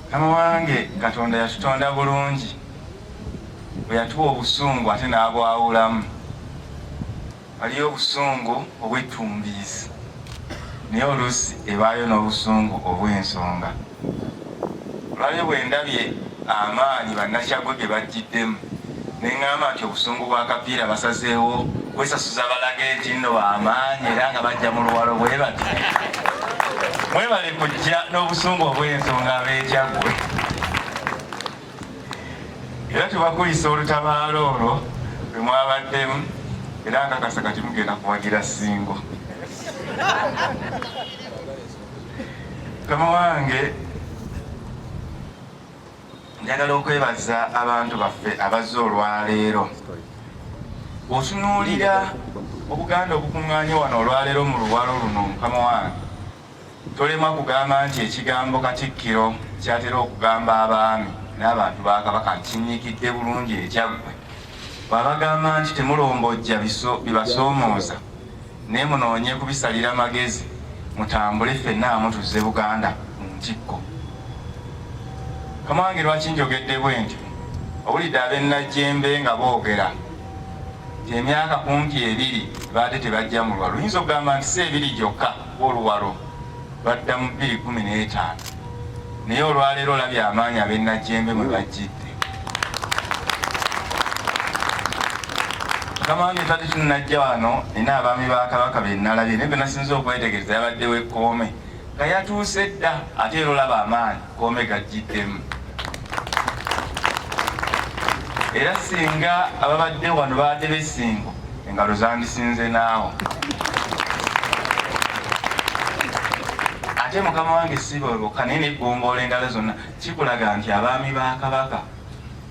Mukama wange Katonda yatutonda bulungi bwe yatuwa obusungu ate n'abwawulamu. Waliyo obusungu obwettumbiizi naye oluusi ebaayo n'obusungu obw'ensonga. Olwalyo bwe ndabye amaanyi Bannakyaggwe ge bajjiddemu ne ŋŋamba nti obusungu bwa kapiira basazeewo kwesasuza balage nti nno bamaanyi era nga bajja mu luwalo bwe bati mwebale kujja n'obusungu obw'ensonga abeekyaggwe era tubakulisa olutabaalo olwo lwe mwabaddemu era nkakasa kati mugenda kuwagira singo kama wange Njagala okwebaza abantu baffe abazze olwaleero. Otunuulira Obuganda obukuŋŋaanye wano olwaleero mu luwalo luno mukama wange tolemwa kugamba nti ekigambo Katikkiro kyatera okugamba abaami n'abantu ba Kabaka nkinyikidde bulungi ekyaggwe bw'abagamba nti temulombojja bibasoomooza Naye munoonye kubisalira magezi mutambule ffenna amu tuzze Buganda mu ntikko. Kamange lwaki njogedde bwentyo owulidde abennajjembe nga boogera nti emyaka kumpi ebiri baadde tebajja mu luwalo oyinza okugamba nti si ebiri gyokka oluwalo lwadda mu bbiri kumi n'etaano naye olwaleero olabye amaanyi ab'ennajjembe mwe bajjidde mukama wange tadde tunajja wano nina abaami ba kabaka be nalabye naye benasinza okwetegereza yabadde wekkoome nga yatuuse dda ate era olaba amaanyi Kome gajjiddemu era singa ababadde wano baadde besingo engalo zandisinze naawo ate mukama wange sibolwoka naye neggombola engalo zonna kikulaga nti abaami ba kabaka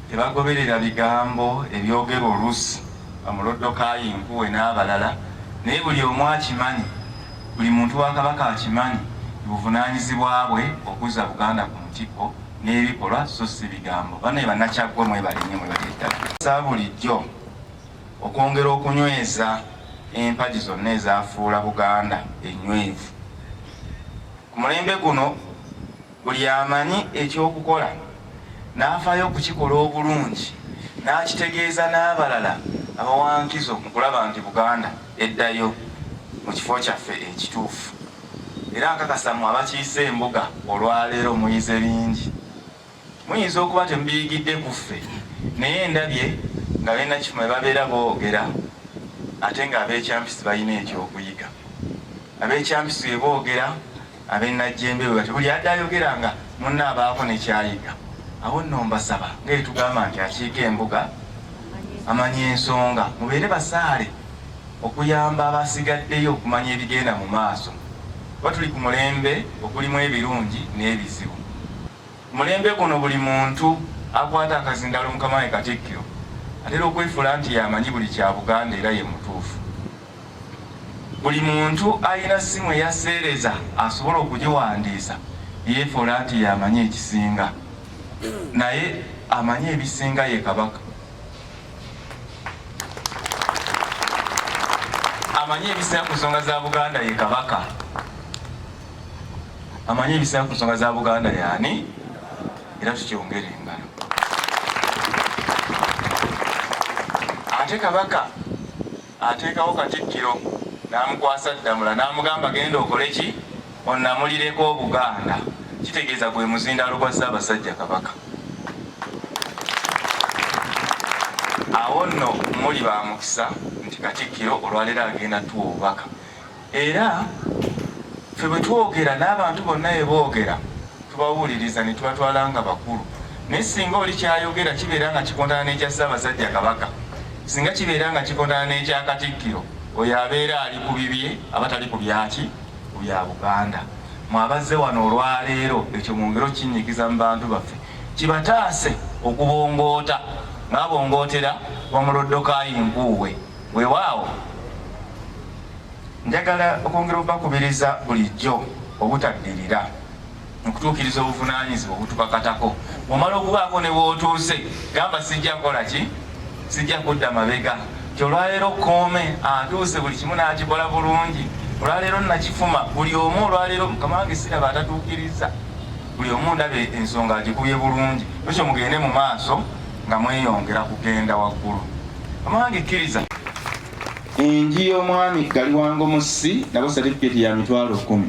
tebagoberera bigambo ebyogera oluusi bamuloddokayo enkuwe n'abalala naye buli omu akimanyi Buli muntu wa Kabaka akimanyi nti buvunaanyizibwa bwe okuzza Buganda ku ntikko n'ebikolwa so ssi bigambo. Banaye Bannakyaggwe mwebale nnyo mwebale ddala. Nsaba bulijjo okwongera okunyweza empagi zonna ezaafuula Buganda ennywevu. Ku mulembe guno Buli amanyi eky'okukola n'afaayo okukikola obulungi n'akitegeeza n'abalala abawa nkizo mu kulaba nti Buganda eddayo mu kifo kyaffe ekituufu era nkakasa mu abakiise embuga olwaleero muyize bingi. Muyinza okuba temubiyigidde ku ffe naye ndabye nga balina kifo mwe babeera boogera ate ng'abeekyampisi balina ekyokuyiga. Abeekyampisi bwe boogera Ab'e Najjembe bwe batyo, buli adda ayogera nga munne abaako ne kyayiga. Abo nno mbasaba nga bye tugamba nti akiika embuga amanya ensonga, mubeere basaale okuyamba abasigaddeyo okumanya ebigenda mu maaso kuba tuli ku mulembe ogulimu ebirungi n'ebizibu. Ku mulembe guno buli muntu akwata akazindaalo mukama we Katikkiro atera okwefuula nti y'amanyi buli kya Buganda era ye mutuufu. Buli muntu alina ssimu eya sseereza asobola okugiwandiisa yeefuula nti y'amanyi ekisinga, naye amanyi ebisinga ye Kabaka. amanyi ebisinga ku nsonga za buganda ye kabaka amanyi ebisinga ku nsonga za buganda yaani era tukyongere engalo ate kabaka ateekawo Katikkiro n'amukwasa Ddamula n'amugamba genda okole ki onnamulireko Obuganda kitegeeza gwe muzindaalo gwa Ssaabasajja Kabaka. Awo nno muli ba mukisa nti Katikkiro olwaleero agenda tuwa obubaka. era fe bwe twogera n'abantu bonna bwe boogera tubawuliriza ne tubatwala nga bakulu naye singa oli kyayogera kibeera nga kikontana n'ekya ssaabasajja kabaka singa kibeera nga kikontana n'ekya katikkiro oyo abeera ali ku bibye aba tali ku byaki ku bya buganda mwabazze wano olwaleero ekyo mwongere okinyigiza mu bantu baffe kibataase okubongoota ng'abongootera wamuloddokayi nkuuwe Weewaawo njagala okwongera obubakubiriza bulijjo obutaddirira mu kutuukiriza obuvunaanyizibwa obutubakatako. Omala okubaako ne wootuuse gamba sijja kukola ki, sijja kudda mabega nti olwaleero kkoome atuuse buli kimu n'akikola bulungi, olwaleero nakifuma buli omu, olwaleero mukama wange siraba atatuukiriza buli omu ndaba ensonga agikubye bulungi, ekyo mugende mu maaso. nga mweyongera kugenda waggulu amange kkiriza enji y'omwami gali wango mussi nabo satifiketi ya mitwalo kumi